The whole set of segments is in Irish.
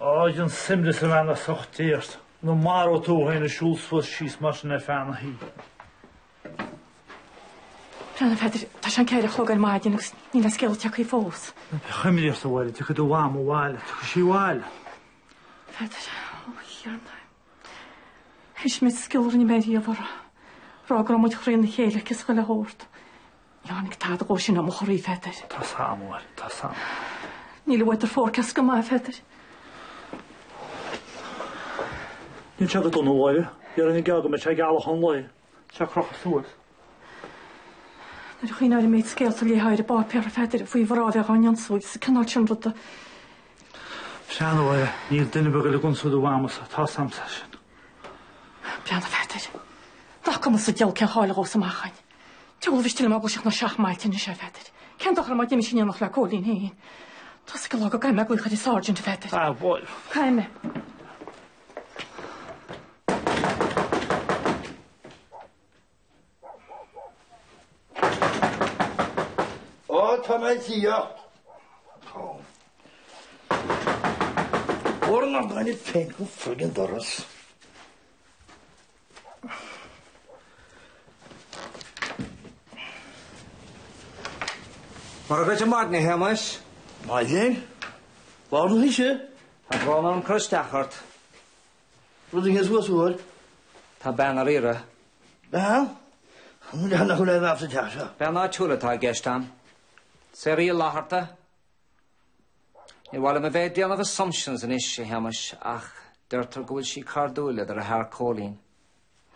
Áit an suimre sa bhean a sochtéacht nó maróidh tú thú féin ag siúl suas síos mar sin ar feadh na hoíche. Bhreathnaigh mé air. Tá sé an ceithre a chlog ar maidin agus níl aon scéal tagtha fós. Bheadh imreacht abhaile. Tiocfaidh do mham abhaile. Tiocfaidh sí abhaile. Pheadair, Ó Thiarna, thaismigh scéal a rinne mé riamh uirthi, rá go raibh muid trína chéile aici is chuile shórt. Tháinig tada dhe sin ó mo chroí, a Pheadair. Tá fhios a'm, a Mháire, tá fhios a'm. Níl an weather forecast go maith, a Pheadair. Níl sé go dona, a Mháire. Bhí orainn an geáil go mbeidh sé gealach an lae. Sé crochadh suas. Nuair a chuimhním ar an méid scéalta a léitear ar an bpáipéar, a Pheadair, faoi mhná a bheith á n-ionsaí is an cineál sin ruda. Breathnaigh, a Mháire. Níl duine ar bith ag goil ag ionsaí do mhamasa. Tá fhios a'msa é sin. Breathnaigh, a Pheadair. Glacaim as a diol cén cháil a dhósa mé achainn. Diabhal mhiste liom eaglaiseacht ná seachmailt anois, a Pheadair. Cén dochar má d'imigh sí in éineacht le Cóilín féin? Tá fhios ag an lá go gcaithfidh mé glaoch ar an Sáirsint, a Pheadair. Ah, bhuel. Caithfidh mé. Ó, tá mé ag iarracht. Mhór an amhráin é féin go foill an doras. Mora dhuit ar maidin, a Shéamais. Maidin? Lár na hoíche? Tá brón orm cur isteach ort. Rud a théas uas uair. Tá bean ar iarraidh. Bean? An bhfuil a fhios acu le a bheadh sa teach seo? Bean áitiúil atá i gceist ann. Sarah Uí Fhlaithearta. Níor mhaith liom a bheith ag déanamh assumptions anois, a Shéamais, ach deirtear go bhfuil sí cairdiúil le do dheartháir Cóilín.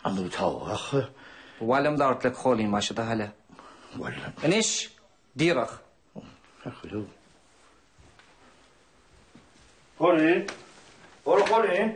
An tú tábhachtach? Ba mhaith liom labhairt le Cóilín más é do thoil é. Bhuel. Anois, díreach. Ar chuala tú? Cóilín? Ó, Cóilín!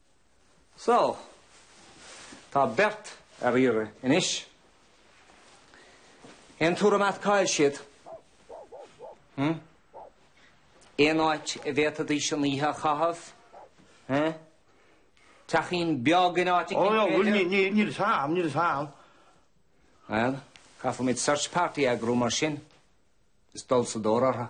Só, tá beirt ar iarraidh anois. Aon tuairim a'd cá'il siad? Hm? Aon áit a bhféadfaidís an oíche a chaitheamh? Hm? Teachín beag in áit eicínt, b'fhéidir? Ó, bhuel, ní, ní, níl fhios a'm, níl fhios a'm. Bhuel, caithfimid search party a eagrú mar sin, is dul sa tóir orthu.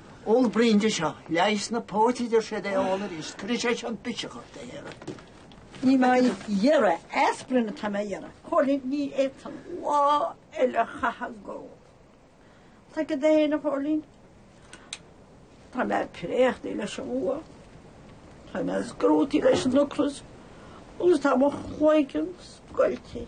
Ól braon de seo, leigheas na póite a deir siad é a ól arís, cuirfidh sé seo an biseach de shaoradh. Níl mé á iarraidh aspirin atá mé a iarraidh a Chóilín Ní fhéadfainn lá eile a chaitheamh ag ól Tá mé go dona a Chóilín Tá mé préachtaí leis an bhfuacht Tá mé scrúdtaí leis an ocras Agus tá mo chloigeann scoiltí.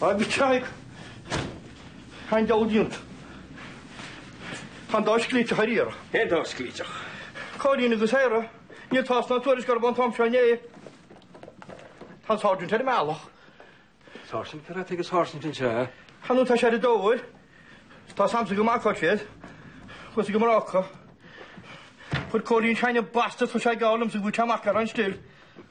Agus tá an diabhal déanta, tá an dá sclíteach ar iarraidh. Cén dá sclíteach? Cóilín agus Sarah. Níl tásc ná tuairisc orthu ón am seo inné. Tá an Sáirsint ar an mbealach. Sáirsint? Cad atá ag an Sáirsint anseo? Chan fhad atá sé ar an dóigh. Tá a fhios agamsa go maith cá bhfuil siad. Chuas go Morocco. Chuir Cóilín teine basta tosaigh á liomsa go bhfuil sé mac le an stil.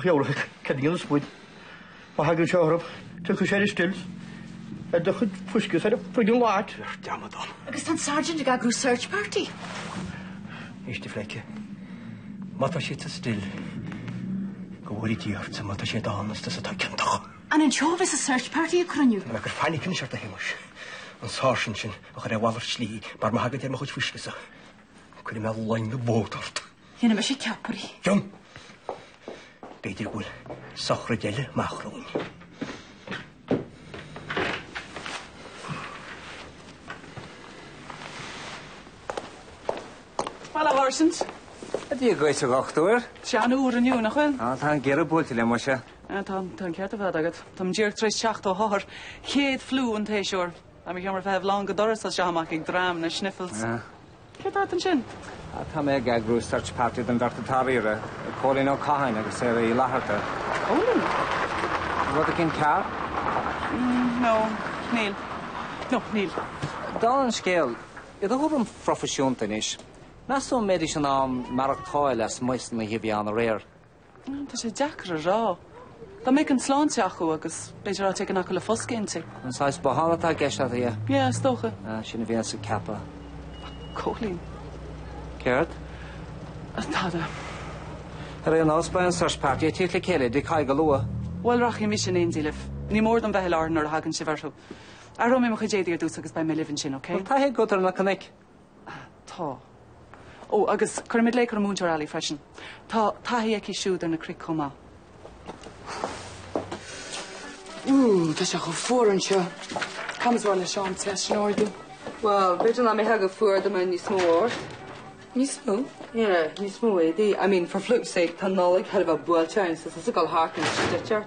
Theorainneacha Cad a dhéanfas muid má thagann sé orthu? Tiocfaidh sé ar an stil ar do chuid fuisce is ar an friggin lot. Ar dearmad dom. Agus tá an Sergeant ag eagrú search party. Éist a phleidhce. Má tá siad sa stil, go bhfóire Dia ortsa má tá siad ann is tusa atá ciontach. An anseo a bheas an search party ag cruinniú? Tá mé ag cur fainic anois ort a Shéamuis, an Sáirsint sin a chur ar mhalairt slí mar má thagann sé ar mo chuid fuisce-sa, cuirfidh mé loinge bót ort. Déanfaidh mise ceapairí. John! B'fhéidir go bhfuil sochraid eile amach romhainn. Bhuel, a Sháirsint. Á, Dia dhuit a dhochtúir. Tá sé an-fhuar inniu, nach bhfuil? Á, tá an geimhreadh buailte linn, muise. Á, tá, tá an ceart ar fad agat. Tá mé díreach tar éis teacht ó othar, céad fliú an tséasúir. Beidh mo sheomra feithimh lán go doras as seo amach ag dream na sniffles. Céard atá ort ansin? Tá mé ag eagrú search party don bheirt atá ar iarraidh, Cóilín Ó Catháin agus Sarah Uí Fhlaithearta. Cóilín? Rud éigin cearr? No, níl. No, níl. Dála an scéil, i do thuairim phroifisiúnta anois, meas tú an mbeidís in ann maireachtáil lasmuigh san oíche fhiáin aréir? Tá sé deacair a rá. Dá mbeadh an tsláinte acu agus b'fhéidir áit éigin acu le foscadh inti. An saghas botháin atá i gceist agat, ab ea? Yeah, is dócha. Ah, sin a bhíos ag ceapadh. Ach Cóilín. Céard? Á, tada. Ar aon nós, beidh an search party ag teacht le chéile tigh Thaidhg go luath. Bhuel, rachaidh mise in éindí libh. Ní mór dom bheith i láthair nuair a thagann sibh orthu. Athróidh mé mo chuid éadaí ar dtús agus beidh mé libh ansin, okay? Tá taithí agat ar na cnoic. Tá. Ó, agus cuirfimid glaoch ar an Múinteoir Alley freisin. Tá taithí aici siúd ar na cnoic chomh maith. Ooh, tá sé chomh fuar anseo. Cad is maith leis an teas a ardú? Bhuel, b'fhéidir nach mbeifeá chomh fuar dá mbeadh níos mó ort. Níos mó? Yeah, níos mó éadaí. I mean, for flukes sake, tá Nollaig sheilbhe buailte linn so is oifigeáil Harkness sin duit ort.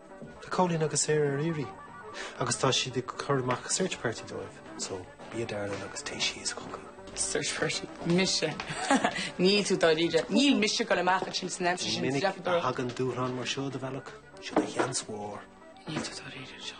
Tá Cóilín agus Sarah ar iarraidh agus tá siad ag cur amach search party dóibh, so bí i do darling agus téigh síos chucu. Search party? Mise? Níl tú dáiríre. Níl mise ag dul amach ansin san aimsir sin, is deacair dom a rá. Ní minic a thagann dúshlán mar seo do bhealach, seo do sheans mhór. Níl tú dáiríre anseo.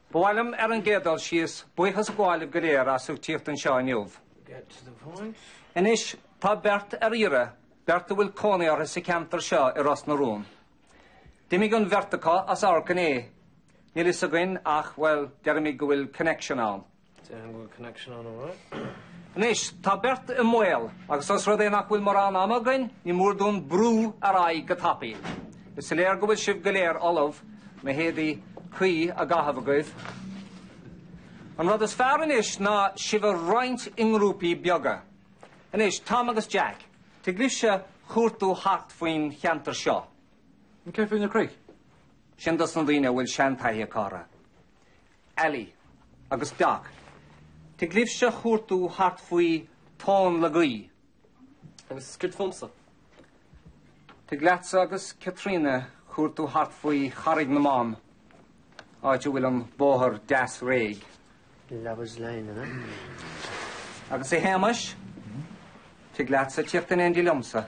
Ba mhaith liom, ar an gcéad dul síos, buíochas a ghabháil libh go léir as ucht tíocht anseo inniu. Anois, tá beirt ar iarraidh, beirt a bhfuil cónaí orthu sa cheantar seo i Ros na Rún. D'imigh an bheirt acu as amharc inné. Níl a fhios againn ach, bhuel, deirimid go bhfuil connection ann. Déarfainn go bhfuil connection ann amháin. Anois, tá beirt i mbaol, agus os rud é nach bhfuil mórán ama againn, ní mór dúinn brú ar aghaidh go tapaidh. Is léir go bhfuil sibh go léir ullamh, na héadaí cuí á gcaitheamh agaibh. An rud is fearr anois ná sibh a roinnt i ngrúpaí beaga. Anois, Tom agus Jack, tig libhse cuartú thart faoin cheantar seo. Ach céard faoi na cnoic? Sin dos na daoine a bhfuil seantaithí acu orthu. Aly agus Doc. Tig libhse chuartú thart faoi Tóin le Gaoith. Agus céard fúmsa. Tig leatsa agus Caitríona cuartú thart faoi Charraig na mBan, áit a bhfuil an bóthar deas réidh. Lovers Lane, an ea? Agus a Shéamais, tig leatsa tíocht in éindí liomsa.